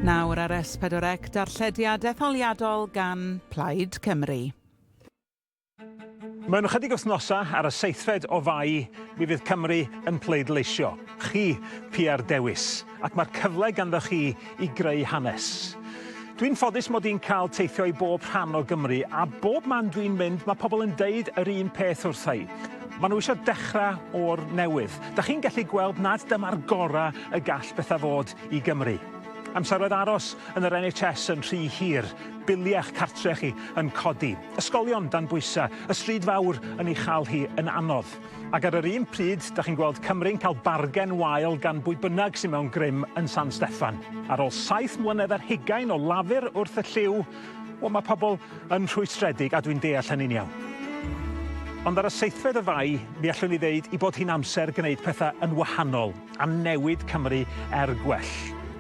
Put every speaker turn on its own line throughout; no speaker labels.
Nawr ar S4C darllediad etholiadol gan Plaid Cymru. Mewn ychydig wythnosau, ar y seithfed o Fai, mi fydd Cymru yn pleidleisio. Chi, Pia'r Dewis. ac mae'r cyfle ganddoch chi i greu hanes. Dwi'n ffodus mod i'n cael teithio i bob rhan o Gymru a bob man dwi'n mynd mae pobl yn deud yr un peth wrtha i. Mae nhw eisiau dechrau o'r newydd. Da chi'n gallu gweld nad dyma'r gorau y gall bethau fod i Gymru. Amseroedd aros yn yr NHS yn rhy hir, biliau'ch cartre chi yn codi, ysgolion dan bwysau, y stryd fawr yn ei chael hi yn anodd. Ac ar yr un pryd, da chi'n gweld Cymru'n cael bargen wael gan bwy bynnag sy'n mewn grym yn San Steffan. Ar ôl saith mlynedd ar hugain o lafur wrth y llyw, wel, mae pobl yn rhwystredig, a dwi'n deall hynny'n iawn. Ond ar y seithfed o Fai, mi allwn i ddeud i bod hi'n amser gwneud pethau yn wahanol, a newid Cymru er gwell.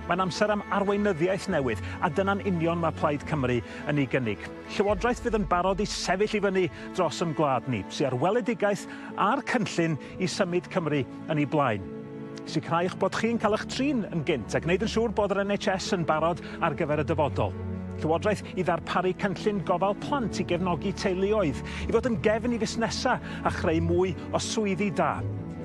Mae'n amser am arweinyddiaeth newydd, a dyna'n union mae Plaid Cymru yn ei gynnig. Llywodraeth fydd yn barod i sefyll i fyny dros yn gwlad ni, sy ar weledigaeth a'r cynllun i symud Cymru yn ei blaen. Sicrhauwch bod chi'n cael eich trin yn gynt a gwneud yn siŵr bod yr NHS yn barod ar gyfer y dyfodol. Llywodraeth i ddarparu cynllun gofal plant i gefnogi teuluoedd, i fod yn gefn i fusnesau a chreu mwy o swyddi da,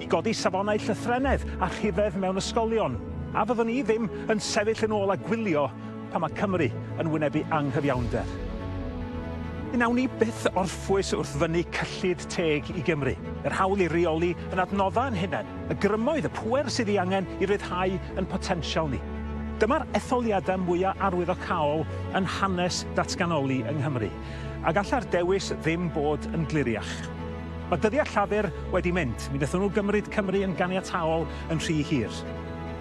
i godi safonau llythrennedd a rhifedd mewn ysgolion, a fyddwn ni ddim yn sefyll yn ôl a gwylio pan mae Cymru yn wynebu anghyfiawnder. Mi wnawn ni byth orffwys wrth fynnu cyllid teg i Gymru, yr hawl i reoli yn adnoddau ein hunain, y grymoedd, y pŵer sydd ei angen i ryddhau ein potensial ni. Dyma'r etholiadau mwyaf arwyddocaol yn hanes datganoli yng Nghymru, a gallai'r dewis ddim bod yn gliriach. Mae dyddiau Llafur wedi mynd, mi wnaethon nhw gymryd Cymru yn ganiataol yn rhy hir.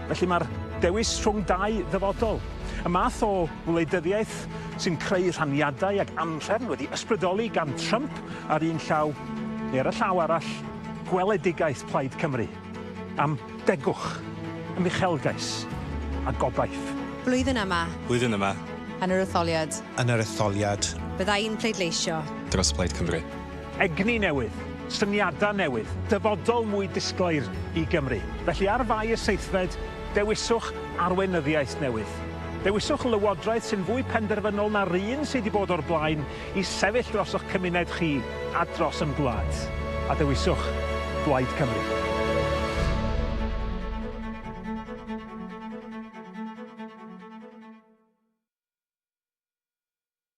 Felly mae'r dewis rhwng dau ddyfodol. Y math o wleidyddiaeth sy'n creu rhaniadau ag anhrefn wedi ysbrydoli gan Trump ar un llaw, neu ar y llaw arall, gweledigaeth Plaid Cymru am degwch, am uchelgais a gobaith. Blwyddyn yma. Blwyddyn yma. Yn yr etholiad. Yn yr etholiad. Bydda i'n pleidleisio. Dros Blaid Cymru. Egni newydd, syniadau newydd, dyfodol mwy disglair i Gymru. Felly ar fai y seithfed, dewiswch arweinyddiaeth newydd. Dewiswch lywodraeth sy'n fwy penderfynol na'r un sydd wedi bod o'r blaen i sefyll dros eich cymuned chi a dros yn gwlad. A dewiswch Blaid Cymru.